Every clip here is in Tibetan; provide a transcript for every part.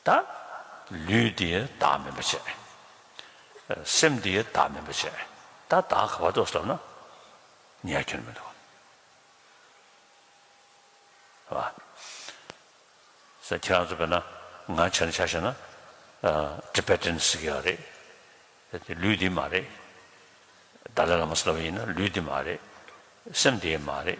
དང། ལུས་འདི་བདག་མིན་པར་བྱས། སེམས་འདི་བདག་མིན་པར་བྱས། ད་བདག་ག་བར་འདོགས་སོ་ན། ཉལ་ཁྱོད་མི་འདུག། བ། ས་ཁྱེད་རང་ཚོ་བས་ན་ང་བྱས་ན་ཆ་ཤེས་ན། Tibetan སི་ཀེ་ཡ་རེད། ད་དེ་ལུས་འདི་མ་རེད། Dalai Lama སི་ལ་བ་ཡིན་ན་ལུས་འདི་མ་རེད། སེམས་འདི་མ་རེད།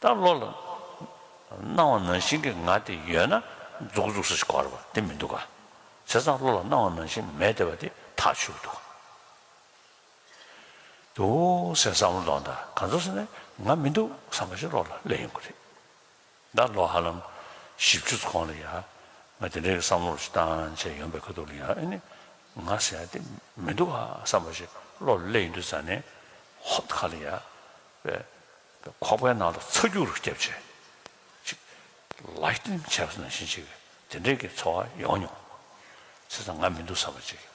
ད་བློ་ལ་སྣང་བ་ནང་བཞིན་གྱི་ང་དེ་ཡོད་ན་རྫོགས་འཇུག་ས་ཞིག་གོ་བ་དེ་མི་འདུག་ག་བྱས་ཙང་བློ་ལ་སྣང་བ་ནང་བཞིན་མེད་བདེ་བ་དེ་ཐག་ཆོད་འདུག་དུ་ཟེར་བསམ་བློ་གཏོང་དང་ག་ཚོད་ཟེར་ནས་ང་མི་འདུག་བསམ་པ་ཞིག་བློ་ལ་སླེབས་ཡོང་གི་རེད། ཟླ་ལོ་ཧ་ལམ་བཞི་བཅུ་ཚོ་གོང་ལ་ཡ། ང་དེ་འདྲའི་བསམ་བློར་ཞིག་བཏང་བྱས་ཡོང་པའི་ཁ་ཐུག་ལ་ཡ་ཨེ་ནི། ང་ཟེར་ཡ་དེ་མི་འདུག་ཨ་བསམ་པ་ཞིག་བློ་ལ་གླས་ཡིན་དུས་ཟ་ནས་ཧོབ་ད་ག་ལ་ཡ། པའི་པའི་ཁོག་པའི་ནང་དུ་ཚ་རྒྱུག་རུ་སྐྱབས་བྱས། ཅིག། Lightning Chaps ནང་བཞིན་ཅིག་དེ་འདྲའི་གི་འཚོ་བ་ཡོང་མྱོང། ཟེར་ཙང་ང་མི་འདུག་བསམ་པ་ཅིག་ཡོད།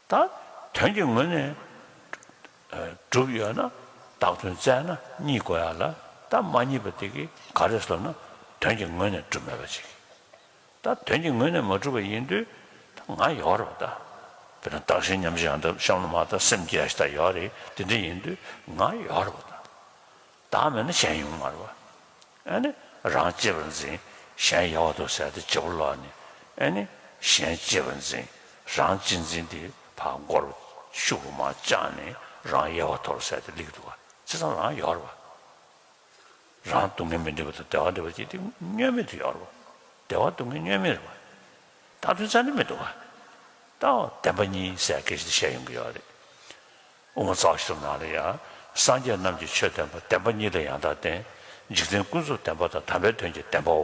དང། དོན་གྱི་ངོས་ནས། གྲུབ་ཡོད་ན་བདག་དོན་བཙལ་ན་གཉིས་དགོས་ཡ་ལ་ད་མ་གཉིས་པ་དེ་གི་ག་རེ་བཟློག་ན་དོན་གྱི་ངོས་ནས་གྲུབ་མེད་པ་ཅིག་ད་དོན་གྱི་ངོས་ནས་མ་གྲུབ་པ་ཡིན་དུས་ད་ང་ཡོག་རེད་པ་ད་དཔེར་ན་བདག་གཞན་མཉམ་གཞག་ཡང་ད་གཤམ་ལོ་མ་ད་སེམས་བསྐྱེད་ཡ་ཞིག་ད་ཡོག་རེད་དེ་འདྲ་ཡིན་དུས་ང་ཡོག་རེད་པ་ད། བདག་མེད་ན་གཞན་ཡུམ་མར་བ། ཨེ་ནི། རང་གཅེས་པར་འཛིན། གཞན་ཡལ་བར་དུ་ཟད་དེ་བྱེད་པོ་ལ་ནི། ཨེ་ནི། གཞན་གཅེས་པར་འཛིན། རང་གཅེས་འཛིན་དེ་བར་མགོར། ཤུབ་བུ་མ་བཅངས་ནས་རང་ཡལ་བར་དོར་ཟད་དེ་ལེགས་འདུག་ག་ཚེ་ཚང་རང་ཡལ་བར་བ། རང་སྡུག་བསྔལ་མི་འདོད་པ་དང་བདེ་བ་འདོད་པ་ཅི་སྟེ་བསྙོན་མེད་དུ་ཡལ་བར་བ། བདེ་བ་སྡུག་བསྔལ་བསྙོན་མེད་རེད་བ། བདག་མདུན་ཚ་འདྲི་མི་འདུག་ག། བདག་བདེན་པ་གཉིས་སའི་སྐད་ཅིག་དེ་བཤད་ཡོང་གི་ཡོད་རེད། དབུ་མ་རྩ་བ་ཤུར་ནང་ལ་ཡང། སངས་རྒྱས་རྣམས་ཀྱི་ཆོས་བསྟན་པ་བདེན་པ་གཉིས་ལ་ཡང་དག་བསྟན། འཇིག་རྟེན་ཀུན་རྫོབ་བདེན་པ་དང་དམ་པའི་དོན་གྱི་བདེན་པའོ།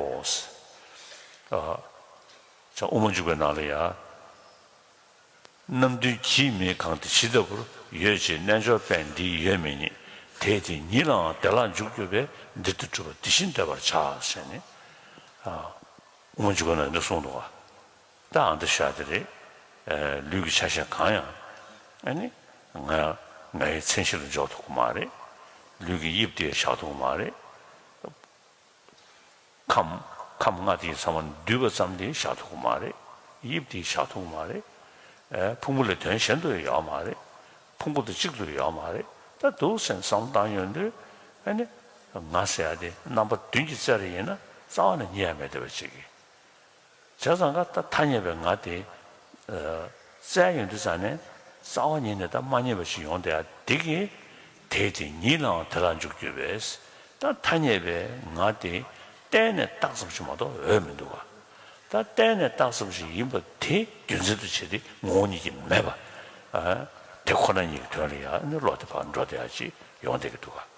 དབུ་མ་འཇུག་པའི་ནང་ལ་ཡང། རྣམ་བདུན་གྱིས་མི་གང་དེ་ཇི་ལྟ་བུར་ཡོད་ཅེས་རྣལ་འབྱོར་པས་འདི་ཡོད་མེད་ཉིད་དེས་དེ་ཉིད་ལའང་བདེ་བླག་འཇུག་གྱུར་པས་འདིར་དེ་གྲུབ་པ་འདི་བཞིན་འདོད་པར་བྱ་ཞེས་ནི། དབུ་མ་འཇུག་པའི་ནང་ནས་གསུངས་འདུག་གོ། ད་ཨ་འདྲ་ཤ་འདྲ་རེད། ལུས་ཀྱི་ཆ་ཤས་གང་ཡང་ཨ་ནི་ང་ང་ཡི་མཚན་གཞི་ལ་འཇོག་ཐུབ་ཀྱི་མ་རེད། ལུས་ཀྱི་དབྱིབས་དེ་བཞག་ཐུབ་ཀྱི་མ་རེད། ཁམས་ཁམས་ལྔ་དེའི་ཚང་མ་འདུས་པ་ཙམ་དེ་བཞག་ཐུབ་ཀྱི་མ་རེད། དབྱིབས་དེ་བཞག་ཐུབ་ཀྱི་མ་རེད། ཕུང་པོ་ལས་དོན་གཞན་དུ་ཡོད་ཀྱི་མ་རེད། ཕུང་པོ་དང་གཅིག་ཏུ་ཡོད་ཀྱི་མ་རེད། ད་སྡུག་སེམས་བསམ་བཏང་ཡོང་དུས་ཨ་ནི་ང་ཟེར་ཡ་དེ་རྣམ་པ་བདུན་གྱི་རྩལ་རེ་ཡིན་ན་རྩ་བ་ནས་རྙེད་ཡ་མེད་བལྟ་བའི་བྱེད་ཀྱི། བྱས་ཙང་ཀ་ད་ཐ་ཉེ་བའི་ང་དེ། བཙལ་ཡོང་དུས་ཙང་ནས་རྩ་བ་ཉིད་ནས་ད་མ་ཉེ་བ་ཞིག་ཡོང་སྟེ་ཨ་དེ་གི། དེས་དེ་ཉིད་ལའང་དེ་ལ་འཇུག་འགྱུར་བས། ད་ཐ་ཉེ་བའི་ང་དེ། གཏན་ནས་རྟགས་ཙམ་ཞིག་མ་གཏོགས་འོས་མི་འདུག་ག། ད་གཏན་ནས་རྟགས་ཙམ་ཞིག་ཡིན་པ་དེ་རྒྱུ་མཚན་དུ་བྱས་ཏེ་ངོ་བོ་ཉིད་ཀྱིས་མེད་པ། དེ་ཁོ་ན་ཉིད་ཀྱི་དོན་ལ་ཡང་ནི་བློ་དེ་བག་འགྲོ་དེ་ཨ་ཅིག་ཡོང་སྡད་ཀྱི་འདུག་ག།